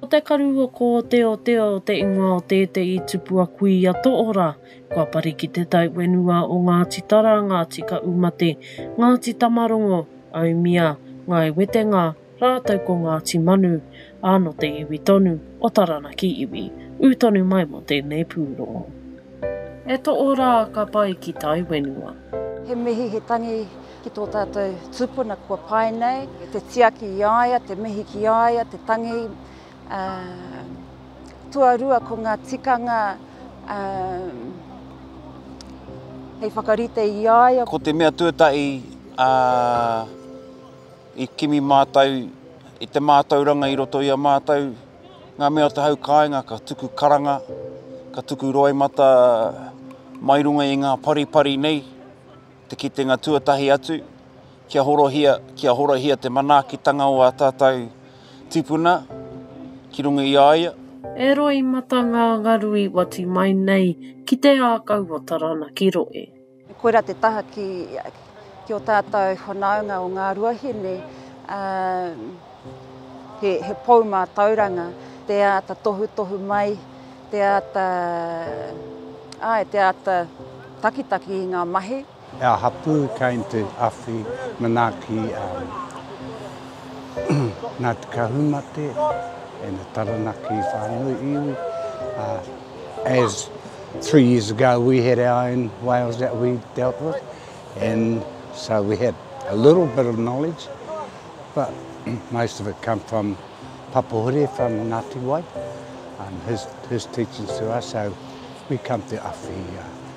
Ko te karu o kōteotea o te ingoa o tētehi tupua kuia tohora, kua pari ki te tauwenua o Ngāti Tara, Ngāti Kaumate, Ngāti Tamarongo, Aumia, Ngāi Wetenga, Rātou ko Ngāti Manu, ā, nō te iwi tonu o Taranaki iwi, ū tonu mai mō tēnei pūrongo. E toʻo rā ka pai ki tai wenua. He mihi, he tangi ki tō tātou tūpuna kua pae nei. Te tiaki i a ia, te mihi ki a ia, te tangi. Tuarua ko ngā tikanga hei whakarite i a ia. Ko te mea tuatahi, ā. I kimi mātou i te mātauranga i roto i a mātou ngā mea o te hau kāinga ka tuku karanga, ka tuku roimata mai runga i ngā paripari nei, te kitenga tuatahi atu, kia horohia, kia horohia te manaakitanga o ā tātou tipuna ki runga i a ia. E roimata ngā ngaru i wati mai nei ki te ākau o Taranaki Rohe. Koirā te taha ki ki o tātou whanaunga o ngā ruahine, ā, he, he pou mātauranga, te āta tohutohu mai, te āta, āe, te āta takitaki i ngā mahi. Our hapū came to Awhi manaaki Ngāti Kahumate and the Taranaki whānui iwi, ā, As three years ago we had our own whales that we dealt with and so we had a little bit of knowledge but most of it come from Papa Hure from Ngati Wai and his, his teachings to us so we come to awhi,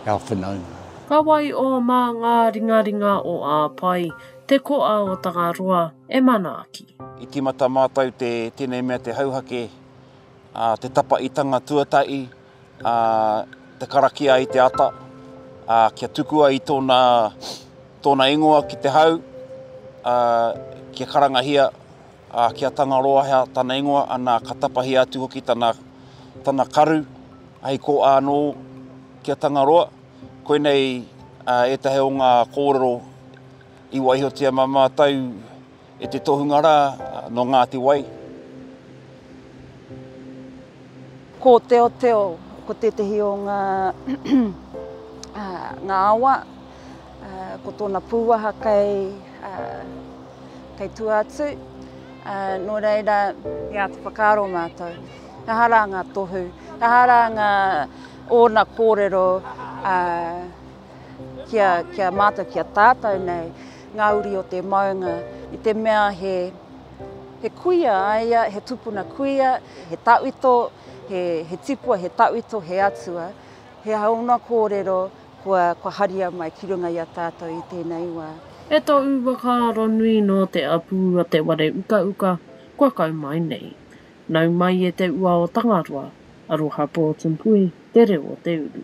uh, our whanaunga. Ka waiō mā ngā ringaringa o Āpae, te koa o Tangaroa, e manaaki. I tīmata mātou te tēnei mea te hauhake. ā, te tapaitanga tuatahi, ā, te karakia i te ata, ā, kia tukua i tōna, tōna ingoa ki te hau, ā, kia karangahia, ā, kia Tangaroahea tana ingoa, anā, ka tapahia atu hoki tana, tana karu, hei kōa anō ki a Tangaroa. Koinei ētahi o ngā kōrero i waihotia mā mātou, E te tohunga rā nō Ngāti Wai. Ko Teoteo, ko tētehi o ngā ngā awa, ko tōna pūwaha kei kei tua atu, nō reira ia te whakaaro mātou, aha rā ngā tohu, aha rā ngā ōna kōrero ki a, ki a mātou, ki a tātou nei, ngā uri o te maunga, i te mea he, he kuia a ia, he tupuna kuia, he tauito, he, he tipua, he tauito, he atua, he aha ōna kōrero, kua, kua haria mai ki runga i a tātou i tēnei wā. E to u whakaaro nui no te apu a te ware uka uka kua kau mai nei. Nau mai e te ua o Tangaroa, aroha Portempui, te reo o te uru.